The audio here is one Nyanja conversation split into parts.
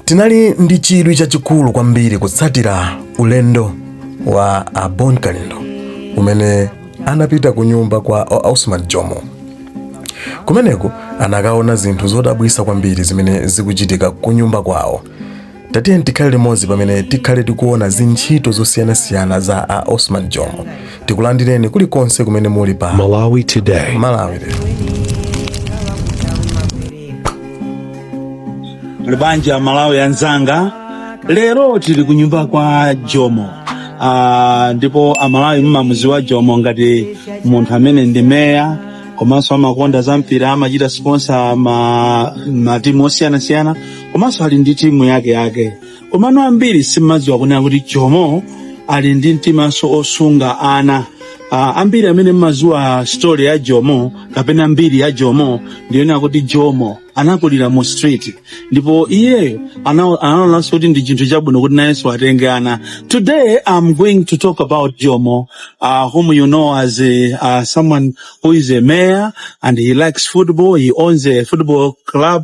Tinali ndi chidwi chachikulu kwambiri kutsatira ulendo wa a Bon Kalindo umene anapita ku nyumba kwa a Osman Jomo. Kumeneko anakaona zinthu zodabwitsa kwambiri zimene zikuchitika ku nyumba kwawo. Tatiyeni tikhale limodzi pamene tikhale tikuona zintchito zosiyanasiyana za a Osman Jomo tikulandireni kulikonse kumene muli pa Malawi Today. Muli bwanji aMalawi anzanga lero tili ku nyumba kwa jomo Ah, ndipo amalawi mmamuziwa jomo ngati munthu amene ndi meya komanso amakonda za mpira amachita sponsor ma, ma timu osiyanasiyana komanso ali ndi timu yake yake komano ambiri simmadziwa kunena kuti jomo ali ndi mtimanso wosunga ana Ah, ambiri amene mmadziwa story ya jomo kapena mbiri ya jomo ndiyonena kuti jomo anakulira mu street ndipo iyeyo ana- anaonanso kuti ndi chinthu chabwino kuti nayenso atenge ana today i'm going to talk about jomo uh, whom you know as a, uh, someone who is a mayor and he likes football he owns a football club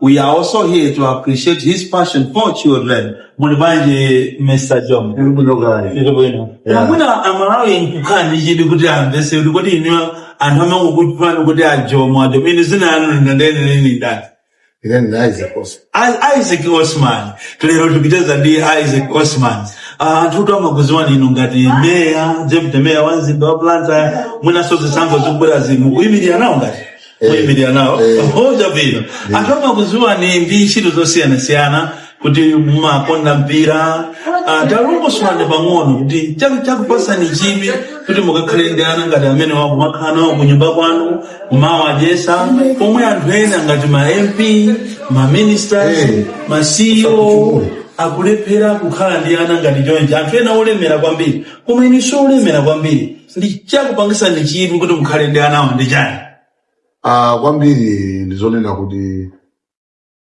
We are also here to appreciate his passion for children. Muli bwanji Mr. Jomo? Ndiri bwino. Yeah. Mwina amalawi angakhale ndi chidwi kuti amvese kuti kodi inu anthu amakutchulani kuti ajomo ajomo inu zina lanu lenileni ndi ndani Ine ndi Isaac Oso. I- Isaac Osman lero tikucheza ndi Isaac Osman Ah, anthutu amakuziwani inu ngati meya deputy meya wa mzinda wa Blantyre mwinanso zisankho zikubwerazi mukuyimirira nawo ngati Eh, muyimirira nawo eh. chabwino anthu amakuziwani ndi ntchito zosiyanasiyana kuti mumakonda mpira Ah, talongosolani pang'ono kuti chaku- chakupasani chidwi kuti mukakhale ndi ana ngati amenewa kumakhala nawo ku nyumba kwanu kumawadyesa pomwe anthu ena ngati ma mp ma ministers Eh. ma ceo Usakutchule. akulephera kukhala ndi ana ngati chonchi anthu ena olemera kwambiri koma inu si olemera kwambiri ndichakupangisani chidwi kuti mukhale ndi anawa ndi chani Ah, kwambiri ndizonena kuti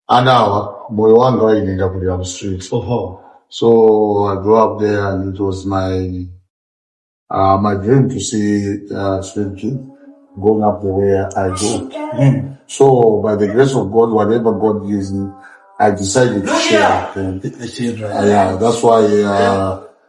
anawa moyo wanga waine ndakulira mu street oho so i grew up there and it was my uh, my dream to see uh, street kids going up the way i go Mm. so by the grace of god whatever god gives me i decided to share with them the children Uh, yeah, that's why uh,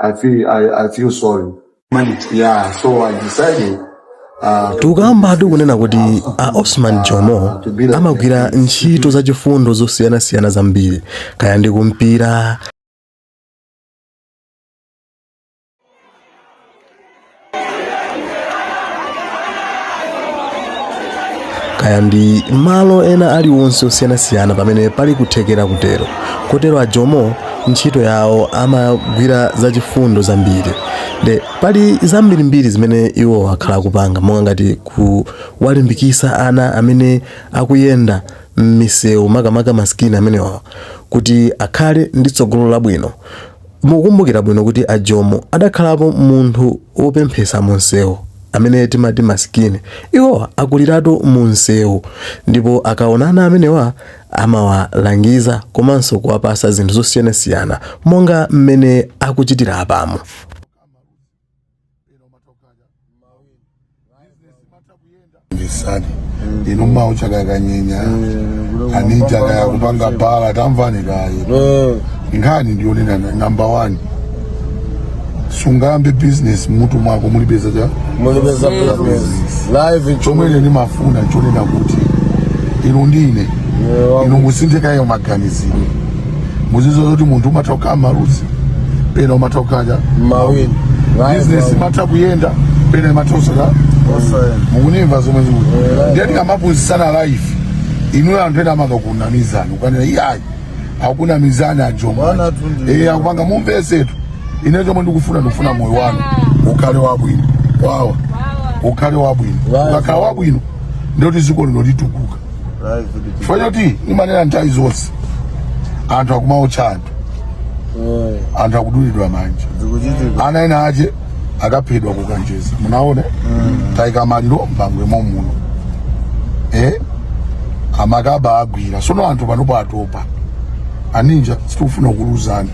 I feel I, I feel sorry. Yeah, so I decided uh, tikukambadi kunena kuti a osman jomo amagwira ntchito zachifundo zosiyanasiyana zambiri kaya ndi kumpira kaya ndi malo ena aliwonse osiyanasiyana pamene pali kuthekera kutero kotero ajomo ntchito yawo amagwira zachifundo zambiri nde pali zambirimbiri zimene iwo akhala akupanga monga ngati kuwalimbikisa ana amene akuyenda m'misewu makamaka masikini amenewa kuti akhale ndi tsogolo labwino Mukukumbukira bwino kuti a Jomo adakhalapo munthu wopemphetsa munsewu amene timati masikini. Iwowa akuliratu munsewu ndipo akaonana amenewa amawalangiza komanso kuwapatsa zinthu zosiyanasiyana monga mmene akuchitira apamo. ndisani inu mawu chakakanyenya aninja kaya kupanga bala tamvani kaye nkhani ndiyonena number one sungayambe business m'mutu mwako mulipeza cha mulipeza business live chomwe ine ndimafuna chonena kuti inu ndi ine inu musinthe kaye maganizidwe muziwe zoti munthu umatha kukhala maluzi pena umatha kukhala mawini bizinesi imatha kuyenda pena imatha kusokha mukunimva zomwe ndikuti ndiye tikamaphunzitsana life inuyo anthu ena amakakunamizani ukanena iyayi akunamizani ajomba eh akupanga mumvesetu ine chomwe ndikufuna ndikufuna moyo wanu ukhale wabwino wawa ukhale wabwino ukakhala wabwino ndiye kuti ziko lino litukuka chifukwa choti ndimanena nthawi zonse anthu akumaotcha anthu eh. anthu akudulidwa manja ana ena ache akaphedwa kukanjeza munaona mm. taika maliro m'Bangwe momuno eh? amakaba agwira sono anthu panopo atopa aninja sitikufuna kuluzana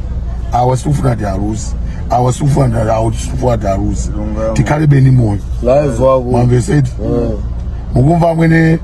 awa sitikufuna ti aluzi awa sitikufuna ti awa sitikufuna ti aluzi tikhale beni moyo mwamvesetu eh. mukumva amwene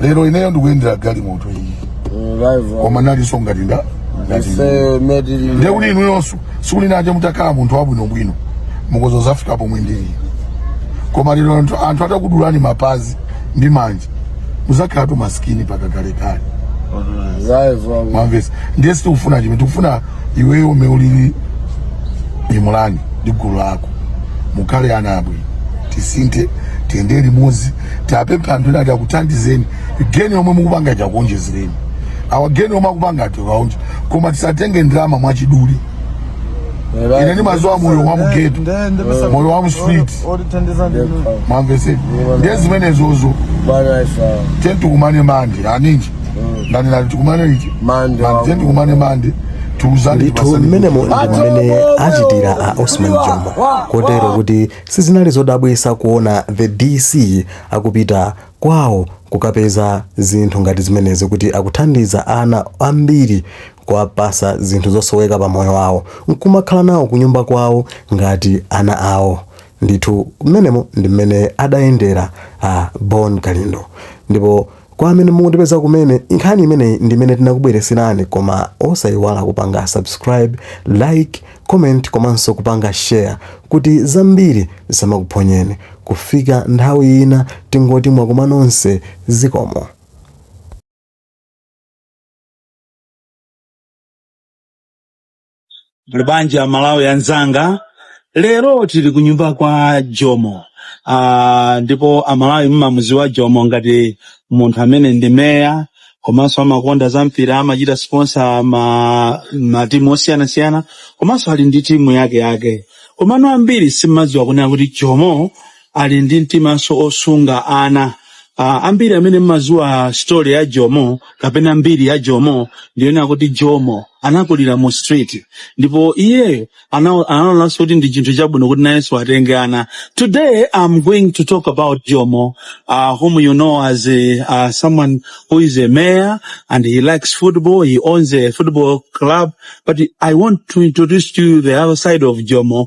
lero ineyo ndikuyendera galimoto iyi koma nalinso ngati nda ndiye kuti inuyonso sikuti naje mutakhala munthu wabwinobwino mukhoza kuzafika pomwe ndili koma lero anthu atakudulani mapazi ndi manja muzakhala tu masikini paka kalekale mwamvesa ndiye sitikufuna chimene tikufuna iweyo mmene ulili Imrani ndi gulu lako mukhale ana abwino tisinthe tiyende limodzi tiapempha anthu ena ati akuthandizeni geni yomwe mukupanga ija akuonjezereni awa geni omwe akupanga ati akaonje koma tisatenge ndalama mwachidule ine ndimaziwa moyo wa mugeto moyo wa mstreet mwamveseni ndiye zimenezozo ten tikumane mande aninji ndani nati tikumane liti Monday. Mande, ten tikumane mande tiuzane tipasane mmenemo ndi mmene achitira a osman jomo kotero kuti Sizinali zodabwisa kuona the DC akupita Kwao kukapeza zinthu ngati zimenezi kuti akuthandiza ana ambiri kuwapasa zinthu zosoweka pa moyo wawo nkumakhala nawo kunyumba kwawo ngati ana awo ndithu mmenemo ndi mmene adayendera Bon Kalindo ndipo Kwa amene mukutipeza kumene, nkhani imeneyi ndi imene tinakubweretserani koma osayiwala kupanga subscribe, like, comment komanso kupanga share kuti zambiri zisamakuphonyeni. Kufika nthawi ina tingoti mwakoma nonse zikomo. muli bwanji a malawi anzanga lero tili ku nyumba kwa jomo ah, ndipo amalawi mmamuziwa jomo ngati munthu amene ndi meya komanso amakonda za mpira amachita sponsor ma matimu osiyanasiyana komanso ali ndi timu yake yake komano ambiri simmadziwa kunena kuti jomo ali ndi mtimanso osunga ana Ah, ambiri amene mmaziwa story ya jomo kapena mbiri ya jomo ndiyonena kuti jomo anakulira mu street ndipo iyeyo ana- anaonanso kuti ndi chinthu chabwino kuti nayenso atenge ana today i'm going to talk about jomo uh, whom you know as a, uh, someone who is a mayor and he likes football he owns a football club but i want to introduce to you the other side of jomo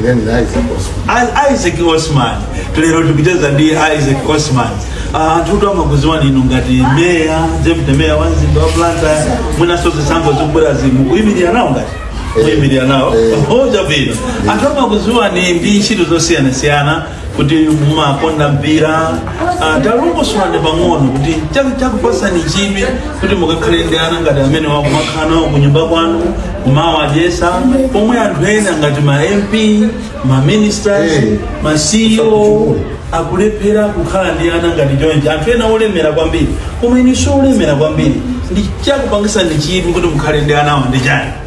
Ndani? Isaac Osman. A- isaac osman lero tikucheza ndi isaac osman Ah, anthu kuti amakuziwani inu ngati meya deputy meya wa mzinda wa blantyre mwinanso zisankho zikubwerazi mukuyimirira nawo ngati kuyimirira nawo Eh. ocha bwino anthu amakuziwani ndi ntchito zosiyanasiyana kuti mumakonda mpira ah, talongosolani pang'ono kuti chak- chakupasani chidwi kuti mukakhale ndi ana ngati amene mukumakhala nawo ku nyumba kwanu kumawadyesa pomwe anthu ena ngati ma mp ma ministers Eh, ma ceo sakuchukula. akulephera kukhala ndi ana ngati chonchi anthu ena olemera kwambiri koma inu si olemera kwambiri nde chakupangisani chidwi kuti mukhale ndi anawo ndi chani